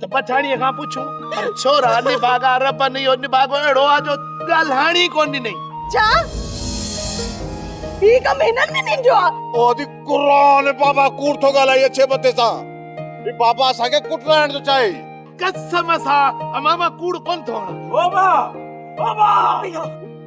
ته پٺاڻيء کان پڇون پر ڇورا نڀاڳا ربن اهو نڀاڳو اهڙو آ جو ڳالهائڻ ئي ڪونه ڏنئي. ڇا؟ هي ڪم هنن ۾ ننڊيو آ؟ او ادي قرآن اي بابا ڪوڙ ٿو ڳالهائي اڇي مٿي سان. هي بابا اسان کي ڪٽرائڻ ٿو چاهي. قسم سان امان مان ڪوڙ ڪونه ٿو هڻان. بابا! بابا!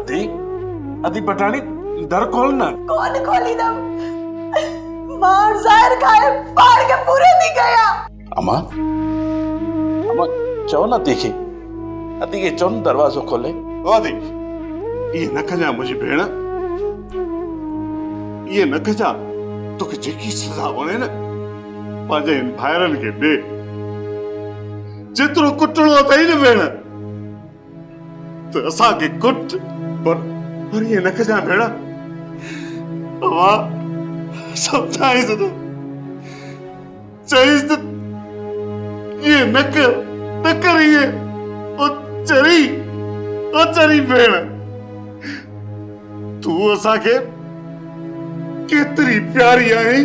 ادي ادي پٽاڻي در کول نه ڪون کوليندم مان ظاهر کائي پاڻ کي پوري ٿي ڪيا اما اما چو نه ادي کي ادي کي چون دروازو کولي ادي اي نه کجا منهنجي ڀيڻ اي نه کجا توکي جيڪي سزا وڻي نه پنهنجي ان ڀائرن کي ڏي جيترو ڪٽڻو اٿئي نه ڀيڻ ته اسان کي ڪٽ. پر پر ائين نه ڪجان ڀيڻ. اوهان سمجهائينس نه. چئينس ته ائين نه ڪر نه ڪر ائين. او چري او چري ڀيڻ تون اسان کي ڪيتري پياري آهين.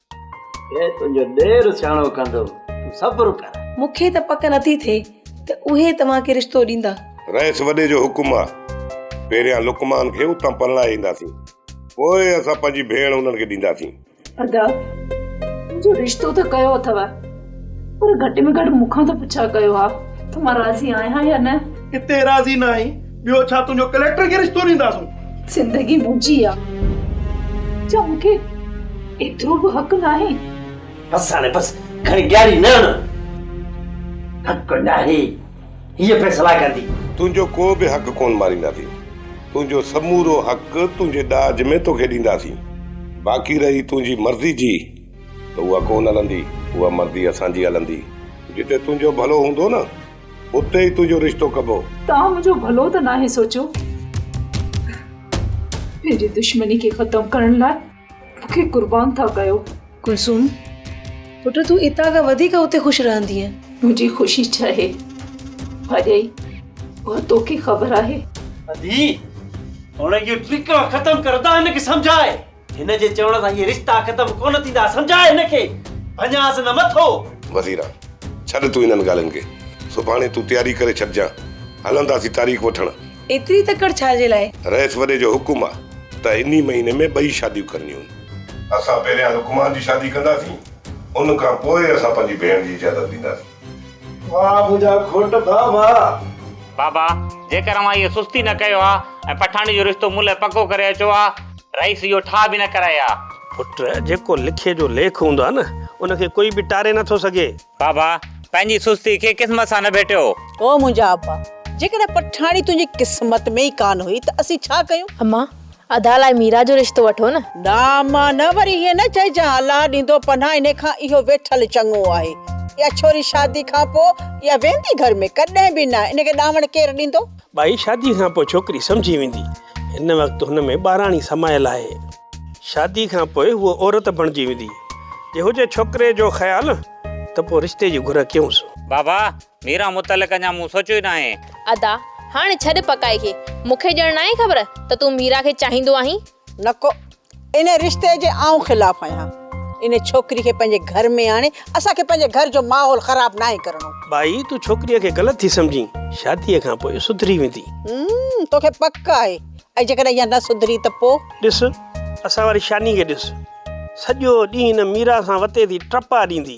اي تنهنجو ڏير سياڻو ڪندو، تون صبر ڪر. مون کي ته پڪ نٿي ٿئي ته اهي توهان کي رشتو ڏيندا. رئيس وڏي جو حڪم آ، پهريان لقمان کي اتان پرڻائي اينداسين، پوء اسان پنهنجي ڀيڻ انهن کي ڏينداسين. ادا، منهنجو رشتو ته ڪيو اٿو. پر گهٽ ۾ گهٽ مون کان ته پڇا ڪيو ها ته مان راضي آهيان يا نه. اتي راضي نه آهين، ٻيو ڇا تنهنجو ڪليڪٽر کي رشتو ڏينداسون. زندگي منهنجي آ، ڇا مون کي ايترو به حق ناهي. بس هاڻي بس، گهڻي ڏياري نه هڻ. حق ناهي، هيء فيصلا ڪندي. تنهنجو ڪو به حق ڪونه مارينداسين، تنهنجو سمورو حق تنهنجي ڏاج ۾ توکي ڏينداسين، باقي رهي تنهنجي مرضي جي. ته اها ڪونه هلندي، اها مرضي اسان جي هلندي. جتي تنهنجو ڀلو هوندو نه، اتي ئي تنهنجو رشتو ڪبو. توهان منهنجو ڀلو ته ناهي سوچيو. پنهنجي دشمني کي ختم ڪرڻ لاء مون کي قربان ٿا ڪيو. ڪلثوم، پٽ تون اتان کان وڌيڪ اتي خوش رهندينء. منهنجي خوشي ڇاهي ڀاڄائي، اها توکي خبر آهي. ادي، هن جي ٽرڪ ختم ڪر ته هن کي سمجهاء. هن جي چوڻ سان اهي رشتا ختم ڪونه ٿيندا سمجهاء هن کي ڀڃانس نه مٿو. وزيرا! ڇڏ تون انهن ڳالهين کي. سڀاڻي تون تياري ڪري ڇڏجان. هلنداسين تاريخ وٺڻ. ايتري تڪڙ ڇا جي لاء؟ رئيس وڏي جو حڪم آ ته انهي مهيني ۾ ٻئي شاديون ڪرڻيون آهن. اسان پهريان لقمان جي شادي ڪنداسين. ان کان پوء اسان پنهنجي ڀيڻ جي اجازت ڏينداسين. واھ منهنجا گهوٽ ڀا واھ. بابا جيڪر اوهان هيء سستي نه ڪيو ها ۽ پٺاڻي جو رشتو مون لاء پڪو ڪري اچو ها. رئيس اهو ٺاهه به نه ڪرائي ها. پٽ جيڪو لکي جو ليک هوندو آهي نه ان کي ڪوئي به ٽاري نه ٿو سگهي. بابا پنهنجي سستي کي قسمت سان نه ڀيٽيو. او منهنجا ابا جيڪڏهن پٺاڻي تنهنجي قسمت ۾ ئي ڪانه هئي ته اسين ڇا ڪيون. امان ادا لاء ميرا جو رشتو وٺو نه. نه امان نه وري ائين نه چئجان الله ڏيندو پناھ انھي کان اھو ويٺل چڱو آھي اھا ڇوري شادي کان پوء اھا ويندي گھر ۾ ڪڏھن به نه انھي کي ڏاوڻ ڪير ڏيندو. ٻائي شادي کان پوء ڇوڪري سمجھي ويندي ھن وقت ھن ۾ ٻاراڻي سمايل آھي شادي کان پوء ھوء عورت بڻجي ويندي جي ھجي ڇوڪري جو خيال ته پوء رشتي جي گھر ڪيونس. بابا ميران متعلق اڃا مون سوچيو ئي ناهي. ادا هاڻي ڇڏ پڪائي کي. مون کي ڄڻ ناهي خبر ته تون ميرا کي چاهيندو آهين. نڪو ان رشتي جي آئون خلاف آهيان. ان ڇوڪري کي پنهنجي گهر ۾ آڻي اسان کي پنهنجي گهر جو ماحول خراب ناهي ڪرڻو. ٻائي تون ڇوڪريء کي غلط ٿي سمجهين. شاديء کان پوء سڌري ويندي. هم توکي پڪ آهي. ۽ جيڪڏهن اها نه سڌري ته پوء؟ ڏس اسان واري شاني کي ڏس. سڄو ڏينهن ان ميرا سان وتي ٿي ٽپا ڏيندي.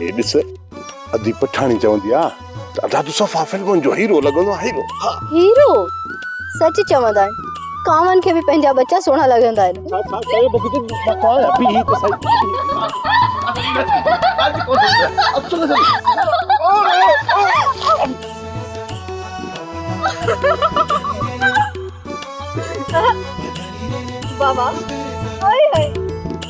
هي ڏس ادي پٺاڻي چوندي آ ته ادا تو صفا فلمن جو هيرو لڳندو آ هيرو هيرو سچ چوندا آهن ڪاون کي به پنهنجا ٻچا سهڻا لڳندا آهن ڇا ڇا چيو بگدي مٿا بي هي ته سائي بابا هاي هاي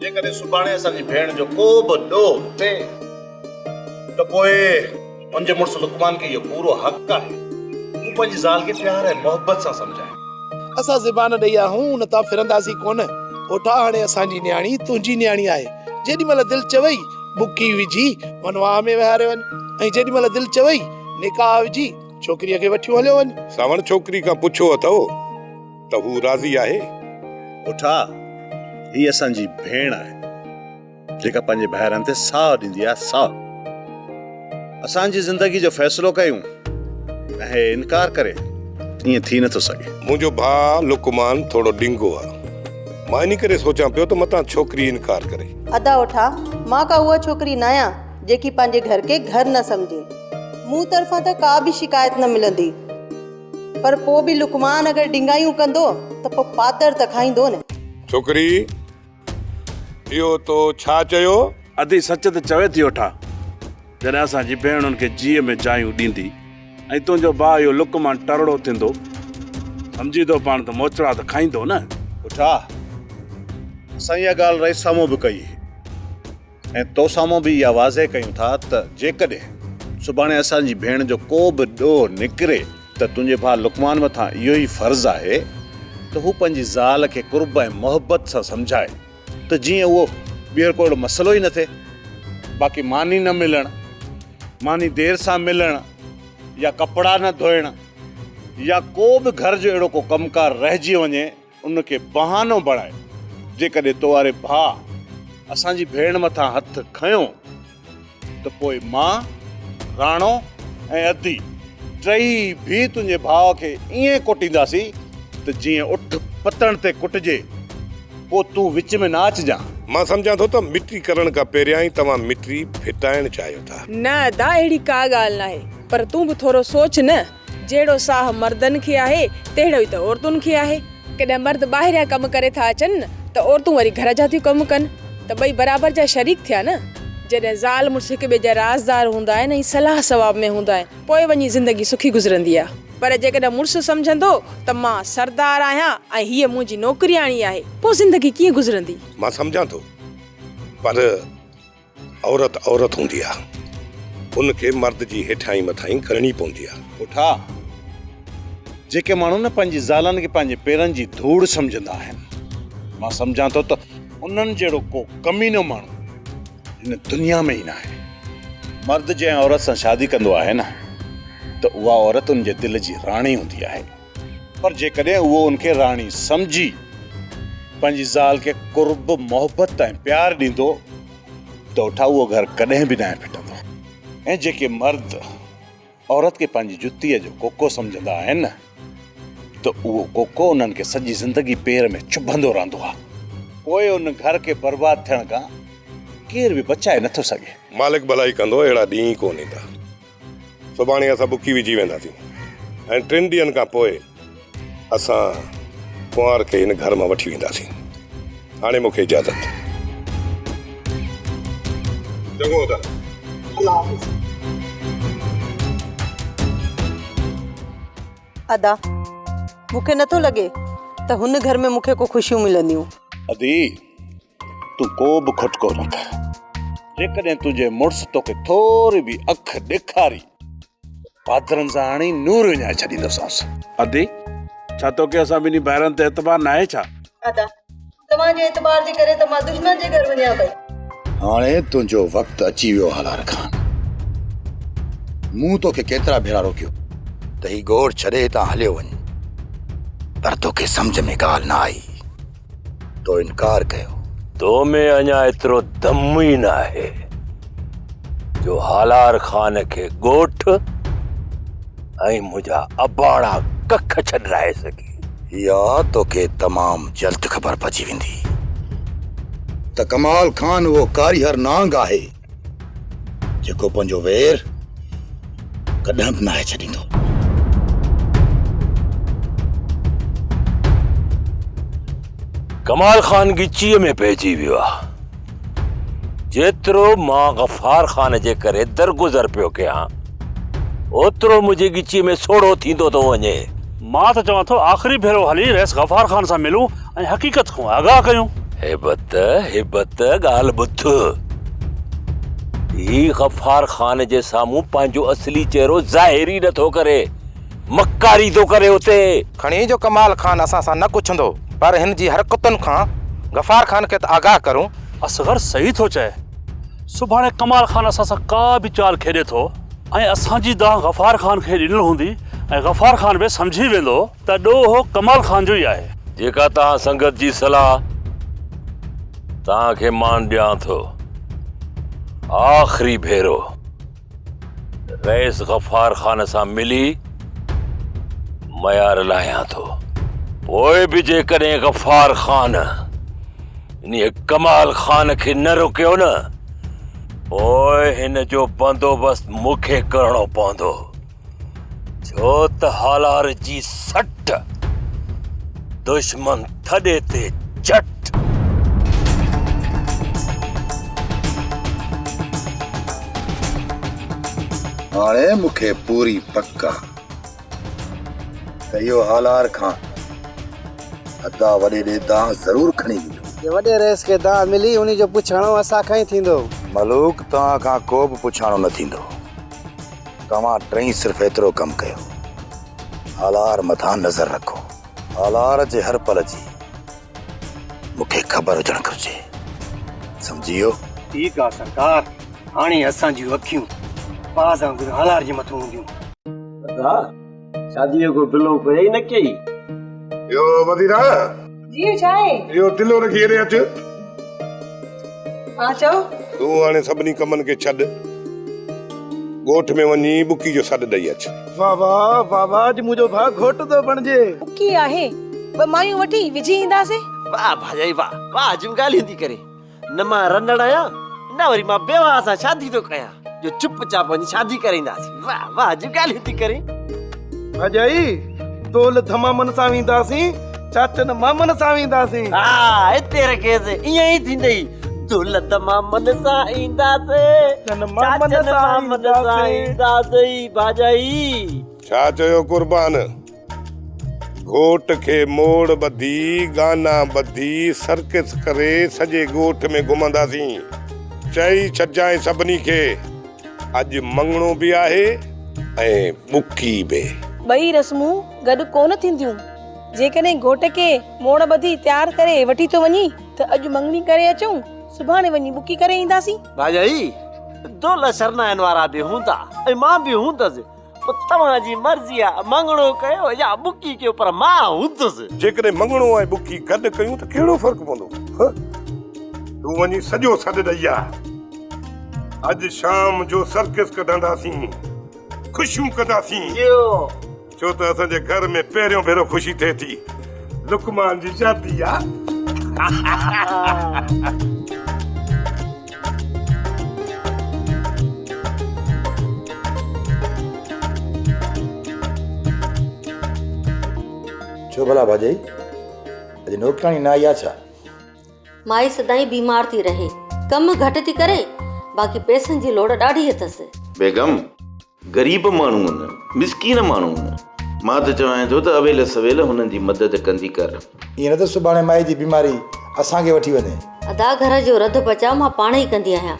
جيڪڏهن سڀاڻي اسان جي ڀيڻ جو ڪو به ڏوهه ٿئي ته پوء هن جي مڙس لقمان کي اهو پورو حق آهي ته هو پنهنجي زال کي پيار ۽ محبت سان سمجهائي. اسان زبان ڏئي آهون ان تان ڦرنداسين ڪونه. پوٺا هاڻي اسان جي نياڻي تنهنجي نياڻي آهي. جيڏي مهل دل چوئي بڪي وجهي ونواهه ۾ وهاري وڃ ۽ جيڏي مهل دل چوئي نڪاح وجهي ڇوڪريء کي وٺيون هليو وڃ. سانوڻ ڇوڪري کان پڇيو اٿئو. ته هو راضي آهي. پٺا، هي اسان جي ڀيڻ آهي، جيڪا پنهنجي ڀائرن تي ساهه ڏيندي آهي، ساهه. اسان جي زندگيء جو فيصلو ڪيون ۽ هي انڪار ڪري، ائين ٿي نٿو سگهي. منهنجو ڀاء لقمان ٿورو ڏنگو آهي. مان انهي ڪري سوچان پيو ته متان ڇوڪري انڪار ڪري. ادا اٺا، مان ڪا اها ڇوڪري ناهيان، جيڪي پنهنجي گهر کي گهر نه سمجهي. مون طرفان ته ڪا به شڪايت نه ملندي. پر پوء به لقمان اگر ڊنگايون ڪندو ته پوء پاتر ته کائيندو نه. ڇوڪري، اهو تو ڇا چيو؟ ادي سچ ته چوي ٿي وٺا، جڏهن اسان جي ڀيڻ ان کي جيء ۾ جايون ڏيندي ۽ تنهنجو ڀاء اهو لقمان ٽرڙو ٿيندو، سمجهين ٿو پاڻ ته موچڙا ته کائيندو نه. وٺا، اسان اها ڳالهه رئيس سامهون به ڪئي. ۽ تو سامهون به اها واضح ڪيون ٿا ته جيڪڏهن سڀاڻي اسان جي ڀيڻ جو ڪو به ڏوهه نڪري ته تنهنجي ڀاء لقمان مٿان اهو ئي فرض آهي ته هو پنهنجي زال کي قرب ۽ محبت سان سمجهائي ته جيئن اهو ٻيهر ڪو اهڙو مسئلو ئي نه ٿئي باقي ماني نه ملڻ ماني دير سان ملڻ يا ڪپڙا نه ڌوئڻ يا ڪو به گهر جو اهڙو ڪو ڪم ڪار رهجي وڃي ان کي بهانو بڻائي جيڪڏهن تو واري ڀاء اسان جي ڀيڻ مٿان هٿ کنيو ته پوء مان، راڻو ۽ ادي ٽيئي ڀي تنهنجي ڀاء کي ائين ڪوٽينداسين ته جيئن اٺ پتڻ تي ڪٽجي. پوء تون وچ ۾ نه اچجان. مان سمجهان ٿو ته مٽي ڪرڻ کان پهريان ئي توهان مٽي ڦٽائڻ چاهيو ٿا. نه ادا اهڙي ڪا ڳالهه ناهي. پر تون به ٿورو سوچ نه. جهڙو ساهه مردن کي آهي، تهڙو ئي ته عورتن کي آهي. ڪڏهن مرد ٻاهريان ڪم ڪري ٿا اچن ته عورتون وري گهر جا ٿيون ڪم ڪن ته ٻئي برابر جا شريڪ ٿيا نه. جڏهن زال مڙس هڪ ٻئي جا رازدار هوندا آهن ۽ صلاح صواب ۾ هوندا آهن، پوء وڃي زندگي سکي گذرندي آهي. پر جيڪڏهن مڙس سمجهندو ته مان سردار آهيان ۽ هيء منهنجي نوڪرياڻي آهي، پوء زندگي ڪيئن گذرندي؟ مان سمجهان ٿو، پر. عورت عورت هوندي آ ان کي مرد جي هيٺاهين مٿاهين ڪرڻي پوندي آ. پٺا، جيڪي ماڻهو نه پنهنجي زالن کي پنهنجي پيرن جي ڌوڙ سمجهندا آهن، مان سمجهان ٿو ته انهن جهڙو ڪو ڪمينو ماڻهو هن دنيا ۾ ئي ناهي. مرد جنهن عورت سان شادي ڪندو آهي نه ته اها عورت ان جي دل جي راڻي هوندي آهي. پر جيڪڏهن هوء ان کي راڻي سمجهي پنهنجي زال کي قرب، محبت ۽ پيار ڏيندو ته اٺا اهو گهر ڪڏهن به ناهي ڦٽندو. ۽ جيڪي مرد عورت کي پنهنجي جتيء جو ڪوڪو سمجهندا آهن ته اهو ڪوڪو انهن کي سڄي زندگي پير ۾ چڀندو رهندو آهي. پوء ان گهر کي برباد ٿيڻ کان ڪير به بچائي نٿو سگهي. مالڪ ڀلائي ڪندو اهڙا ڏينهن ئي ڪونه ايندا. سڀاڻي اسان بکي وجهي وينداسين ۽ ٽن ڏينهن کان پوء اسان ڪنوار کي هن گهر مان وٺي وينداسين. هاڻي مون کي اجازت. چڱو ته الله حافظ. ادا، مون کي نٿو لڳي ته هن گهر ۾ مون کي ڪو خوشيون ملنديون. ادي، تون ڪو به کٽڪو نه ڪر. جيڪڏهن تنهنجي مڙس توکي ٿوري به اک ڏيکاري، پادرن سان هڻي نور وڃائي ڇڏيندوسانس. ادي، ڇا توکي اسان ٻنهي ڀائرن تي اعتبار ناهي ڇا؟ ادا، توهان جي اعتبار جي ڪري ته مان دشمن جي گهر وڃان پئي. هاڻي تنهنجو وقت اچي ويو هالار خان. مون توکي ڪيترا ڀيرا روڪيو ته هي ڳوٺ ڇڏي هتان هليو وڃ، پر توکي سمجهه ۾ ڳالهه نه آئي. تو انڪار ڪيو. تو ۾ اڃا ايترو دم ئي ناهي جو هالار خان کي ڳوٺ ۽ منهنجا اباڻا ڪک ڇڏرائي سگهين. اها توکي تمام جلد خبر پئجي ويندي ته ڪمال خان اهو ڪاريهر نانگ آهي جيڪو پنهنجو وير ڪڏهن به ناهي ڇڏيندو ڪمال خان ڳچيء ۾ پئجي ويو آ جيترو مان غفار خان جي ڪري درگذر پيو ڪيان اوترو منهنجي ڳچيء ۾ سوڙهو ٿيندو ٿو وڃي. مان ته چوان ٿو آخري ڀيرو هلي رئيس غفار خان سان ملون ۽ حقيقت کان آگاهه ڪيون. هيبت، هيبت ڳالهه ٻڌ. هي غفار خان جي سامهون پنهنجو اصلي چهرو ظاهر ئي نه ٿو ڪري. مڪاري ٿو ڪري اتي. کڻي جو ڪمال خان اسان سان نه ڪڇندو پر هن جي حرڪتن کان غفار خان کي ته آگاهه ڪرون. اصغر صحيح ٿو چئي. سڀاڻي ڪمال خان اسان سان ڪا به چال کيڏي ٿو ۽ اسان جي دانهن غفار خان کي ڏنل هوندي ۽ غفار خان به سمجهي ويندو ته ڏوهه ڪمال خان جو ئي آهي. جيڪا توهان سنگت جي صلاح توهان کي مان ڏيان ٿو. آخري ڀيرو. رئيس غفار خان سان ملي معيار لاهيان ٿو پوء به جيڪڏهن غفار خان انهي ڪمال خان کي نه روڪيو نه پوء هن جو بندوبست مون کي ڪرڻو پوندو ڇو ته هالار جي سٽ، دشمن ٿڏي تي چٽ. هاڻي مون کي پوري پڪ آ ته اهو هالار کان ادا وڏي ڏي دانهن ضرور کڻي ويندو. جي وڏي رئيس کي دانهن ملي، انهي جو پڇاڻو اسان کان ئي ٿيندو. ملوڪ توهان کان ڪو به پڇاڻو نه ٿيندو. توهان ٽئي صرف ايترو ڪم ڪيو هالار مٿان نظر رکو هالار جي هر پل جي مون کي خبر هجڻ گهرجي سمجهي ويو. ٺيڪ آ سرڪار هاڻي اسان جون اکيون باز وانگر هالار جي مٿو هونديون. سردار شاديء جو پلو ڪوئي ئي نه ڪيئي. يو وزيرا! جي ڇا آهي؟ يو تلو رکي هيڏي اچ. ها چئو. تون هاڻي سڀني ڪمن کي ڇڏ. ڳوٺ ۾ وڃي ٻڪي جو سڏ ڏئي اچ. واهه واهه واهه واهه اڄ منهنجو ڀاء گهوٽ ٿو بڻجي. ٻڪي آهي، ٻه مايون وٺي وجهي اينداسين. واهه ڀاڄائي واهه واهه جم ڳالهيون ٿي ڪرين. نه مان رنڙ آهيان نه وري مان بيواهه سان شادي ٿو ڪيان جو چپ چاپ وڃي شادي ڪري اينداسين واهه واهه جون ڳالهيون ٿي ڪرين ڀڄائي دول ڌمامن سان وينداسين چاچن مامن سان وينداسين ها هتي رکيس ائين ئي ٿيندئي دول ڌمامن سان اينداسين چاچن مامن سان اينداسين ڀڄائي ڇا چيو قربان گهوٽ کي موڙ ٻڌي، گانا ٻڌي، سرڪس ڪري سڄي ڳوٺ ۾ گهمنداسين. چئي ڇڏجانء سڀني کي، اڄ مڱڻو به آهي ۽ ٻڪي به. ٻئي رسمون گڏ ڪونه ٿينديون. جيڪڏهن گهوٽ کي موڙ ٻڌي تيار ڪري وٺي ٿو وڃي ته اڄ مڱڻي ڪري اچون، سڀاڻي وڃي ٻڪي ڪري اينداسين. ڀاڄائي، دولهه سرنائن وارا به هوندا ۽ مان به هوندس. پوء توهان جي مرضي آهي ته مڱڻو ڪيو يا ٻڪي ڪيو پر مان هوندس. جيڪڏهن مڱڻو ۽ ٻڪي گڏ ڪيون ته ڪهڙو فرق پوندو؟ ها؟ تون وڃي سڄو سڏ ڏئي آ. اڄ شام جو سرڪس ڪڍنداسين. خوشيون ڪنداسين. جيو. ڇو ته اسان جي گهر ۾ پهريون ڀيرو خوشي ٿئي ٿي. لقمان جي شادي آ. ڇو ڀلا ڀاڄائي؟ اڄ نوڪراڻي نه آئي آ ڇا؟ مائي سدائين بيمار ٿي رهي. ڪم گهٽ ٿي ڪري، باقي پئسن جي لوڙ ڏاڍي اٿس. بيگم! غريب ماڻهو نه مسڪين ماڻهو نه. مان ته چوانء ٿو ته اويل سويل هنن جي مدد ڪندي ڪر. ائين نه ته سڀاڻي مائي جي بيماري اسان کي وٺي وڃي. ادا گهر جو رڌ بچاء مان پاڻ ئي ڪندي آهيان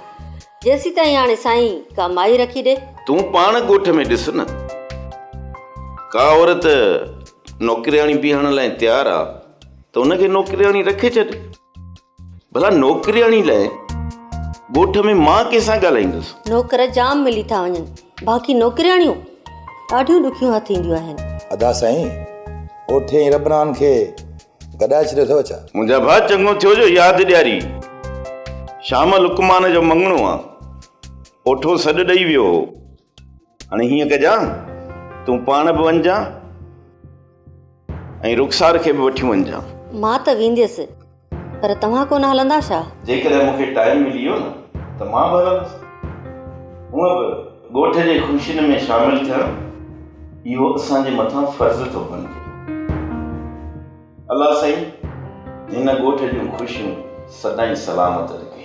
جيسيتائين هاڻي سائين ڪا مائي رکي ڏي. تون پاڻ ڳوٺ ۾ ڏس نه ڪا عورت نوڪرياڻي بيهڻ لاء تيار آ ته ان کي نوڪرياڻي رکي ڇڏ. ڀلا نوڪرياڻي لاء ڳوٺ ۾ مان ڪنهن سان ڳالهائيندس. نوڪر جام ملي ٿا وڃن باقي نوڪرياڻيون ڏاڍيون ڏکيون هٿ اينديون آهن. ادا سائين اوٺي ۽ ربران کي گڏائي ڇڏيو اٿو ڇا؟ منهنجا ڀاء چڱو ٿيو جو ياد ڏياري. شام لقمان جو مڱڻو آ. اوٺو سڏ ڏئي ويو هو. هاڻي هيئن ڪجان، تون پاڻ به وڃجان ۽ رخسار کي به وٺي وڃجان. مان ته وينديس، پر توهان ڪونه هلندا ڇا؟ جيڪڏهن مون کي ٽائيم ملي ويو نه ته مان به هلندس. هونء به ڳوٺ جي خوشين ۾ شامل ٿيڻ، اهو اسان جي مٿان فرض ٿو بڻجي. الله سائين هن ڳوٺ جون خوشيون سدائين سلامت رکي.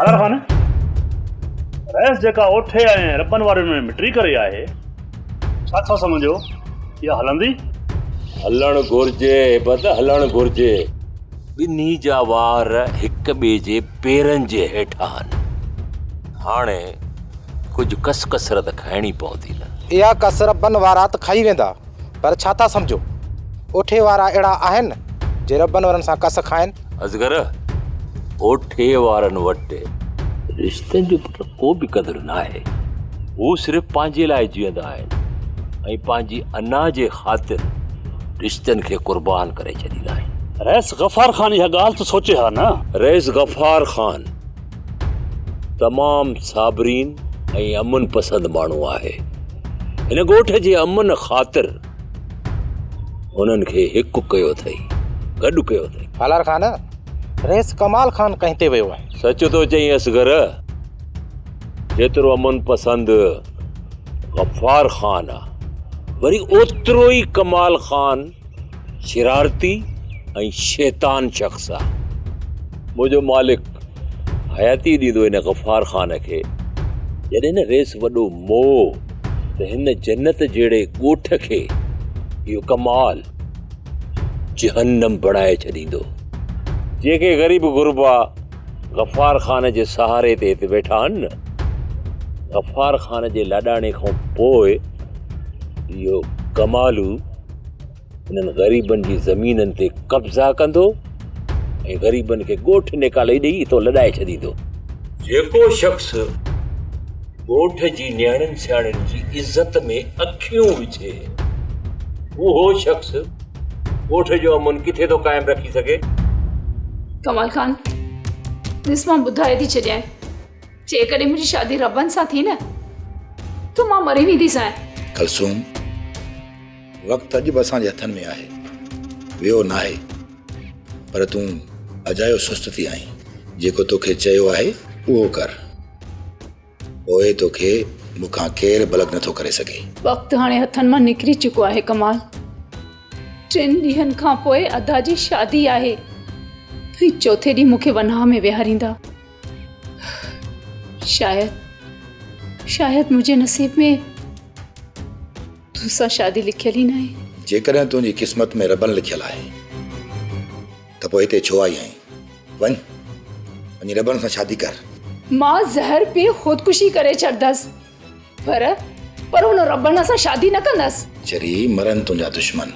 حيدر خان رئيس جيڪا اوٺي ۽ ربن واري ۾ مٽري ڪري آهي ڇا ٿا سمجهو اها هلندي هلڻ گهرجي عبد هلڻ گهرجي ٻنهي جا وار هڪ ٻئي جي پيرن جي هيٺان آهن هاڻي ڪجهه ڪس ڪسرت کائڻي پوندي نه. اها ڪسر بن وارا ته کائي ويندا پر ڇا ٿا سمجهو اوٺي وارا اهڙا آهن جي ربن ورن سان ڪس کائن. اصغر اوٺي وارن وٽ رشتن جو پٽ ڪو به قدر ناهي هو صرف پنهنجي لاء جيئندا آهن ۽ پنهنجي انا جي خاطر رشتن کي قربان ڪري ڇڏيندا آهن. رئيس غفار خان اها ڳالهه ته سوچي ها نه. رئيس غفار خان تمام صابرين ۽ امن پسند ماڻهو آهي. هن ڳوٺ جي امن خاطر هنن کي هڪ ڪيو اٿئي، گڏ ڪيو اٿئي. سالار خان، رئيس ڪمال خان ڪنهن تي ويو آهي؟ سچ ٿو چئين اصغر، جيترو امن پسند غفار خان آهي، وري اوترو ئي ڪمال خان. شرارتي ۽ شيطان شخص آ منهنجو مالڪ حياتي ڏيندو هن غفار خان کي جڏهن نه ريس وڏو مو ته هن جنت جهڙي ڳوٺ کي اهو ڪمال جهنم بڻائي ڇڏيندو جيڪي غريب غربا غفار خان جي سهاري تي هت ويٺا آهن نه غفار خان جي لاڏاڻي کان پوء اهو ڪمالو انهن غريبن جي زمينن تي قبضا ڪندو ۽ غريبن کي ڳوٺ نيڪالي ڏيئي اتو لڏائي ڇڏيندو جيڪو شخص ڳوٺ جي نياڻين سياڻين جي عزت ۾ اکيون وجهي اهو شخص ڳوٺ جو امن ڪٿي ٿو قائم رکي سگهي ڪمال خان ڏس مان ٻڌائي ٿي ڇڏيان جيڪڏهن منهنجي شادي ربن سان ٿي نه ته مان مري وينديسانء ڪلثوم وقت اڄ به اسان جي هٿن ۾ آهي، ويو ناهي، پر تون اجايو سست ٿي آهين. جيڪو توکي چيو آهي، اهو ڪر، پوء توکي مون کان ڪير بلد نٿو ڪري سگهي. وقت هاڻي هٿن مان نڪري چڪو آهي ڪمال. ٽن ڏينهن کان پوء ادا جي شادي آهي ۽ چوٿين ڏينهن مون کي وناهه ۾ ويهاريندا. شايد، شايد منهنجي نصيب ۾. تو سان شادي لکيل ئي ناهي. جيڪڏهن تنهنجي قسمت ۾ ربن لکيل آهي ته پوء هتي ڇو آئي آهين؟ وڃ، وڃي ربن سان شادي ڪر. مان زهر پي خودڪشي ڪري ڇڏندس، پر پر ان ربن سان شادي نه ڪندس. چري مرن تنهنجا دشمن،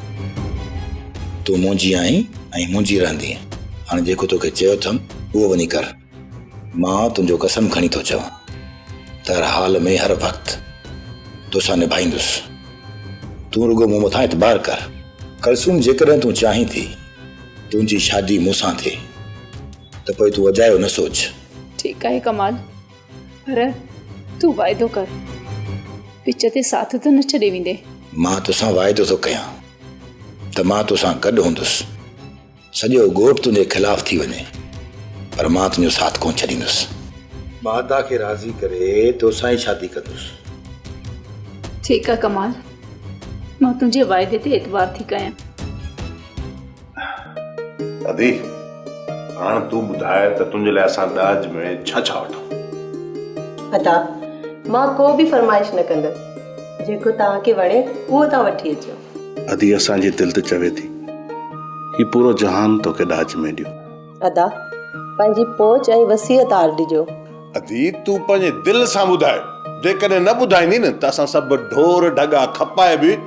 تون منهنجي آهين ۽ منهنجي رهندينء. هاڻ جيڪو توکي چيو اٿم، اهو وڃي ڪر. مان تنهنجو قسم کڻي ٿو چوان ته هر حال ۾ هر وقت توسان نڀائيندس تون رڳو مون مٿان اعتبار ڪر ڪلثوم جيڪڏهن تون چاهين ٿي تنهنجي شادي مون سان ٿئي ته پوء تون اجايو نه سوچ ٺيڪ آهي ڪمال پر تون واعدو ڪر وچ تي ساٿ ته نه ڇڏي ويندي مان توسان واعدو ٿو ڪيان ته مان توسان گڏ هوندس سڄو ڳوٺ تنهنجي خلاف ٿي وڃي پر مان تنهنجو ساٿ ڪونه ڇڏيندس. ماتا کي راضي ڪري توسان ئي شادي ڪندس. ٺيڪ آ ڪمال مان تنهنجي وعدي تي اعتبار ٿي ڪيان. ادي هاڻ تون ٻڌاء ته تنهنجي لاء اسان ڏاج ۾ ڇا ڇا وٺون. ادا مان ڪو به فرمائش نه ڪندس جيڪو توهان کي وڻي اهو توهان وٺي اچو. ادي اسان جي دل ته چوي ٿي هي پورو جهان توکي ڏاج ۾ ڏيو. ادا پنهنجي پهچ ۽ وسيع تار ڏجو. ادي تون پنهنجي دل سان ٻڌاء جيڪڏهن نه ٻڌائيندي نه ته اسان سڀ ڍور ڍڳا کپائي به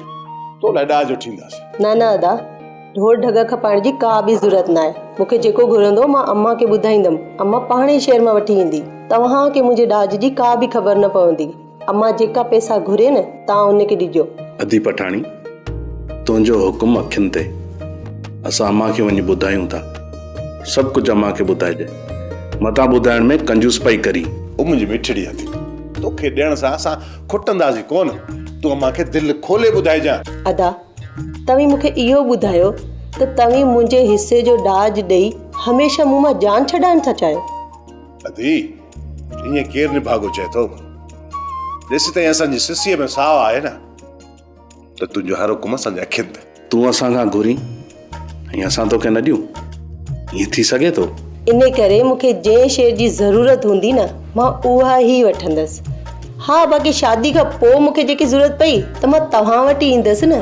تو لاء ڏاج وٺينداسين. نه نه ادا ڍور ڍڳا کپائڻ جي ڪا به ضرورت ناهي مونکي جيڪو گهرندو مان امان کي ٻڌائيندم امان پاڻ ئي شهر مان وٺي ايندي توهان کي منهنجي ڏاج جي ڪا به خبر نه پوندي. امان جيڪا پئسا گهري نه توهان ان کي ڏجو. ادي پٺاڻي تنهنجو حڪم اکين تي اسان امان کي وڃي ٻڌايون ٿا سڀ ڪجهه امان کي ٻڌائجي متان ٻڌائڻ ۾ ڪنجوس پئي ڪرين. او منهنجي مٺڙي ادي توکي ڏيڻ سان اسان کٽنداسين ڪونه تون امان کي دل کولي ٻڌائجان. ادا توهين مون کي اهو ٻڌايو ته توهين منهنجي حصي جو ڏاج ڏئي هميشه مون مان جان ڇڏائڻ ٿا چاهيو. ادي ائين ڪير نڀاڳو چئي ٿو ڏس تائين اسان جي سسيء ۾ ساهه آهي نه ته تنهنجو هر حڪم اسان جي اکين ته تون اسان کان گهرين ۽ اسان توکي نه ڏيون ائين ٿي سگهي ٿو ان ڪري مون کي جنهن شيء جي ضرورت هوندي نه مان اها ئي وٺندس ها باقي شادي کان پوء مون کي جيڪي ضرورت پئي ته مان توهان وٽ ئي ايندس نه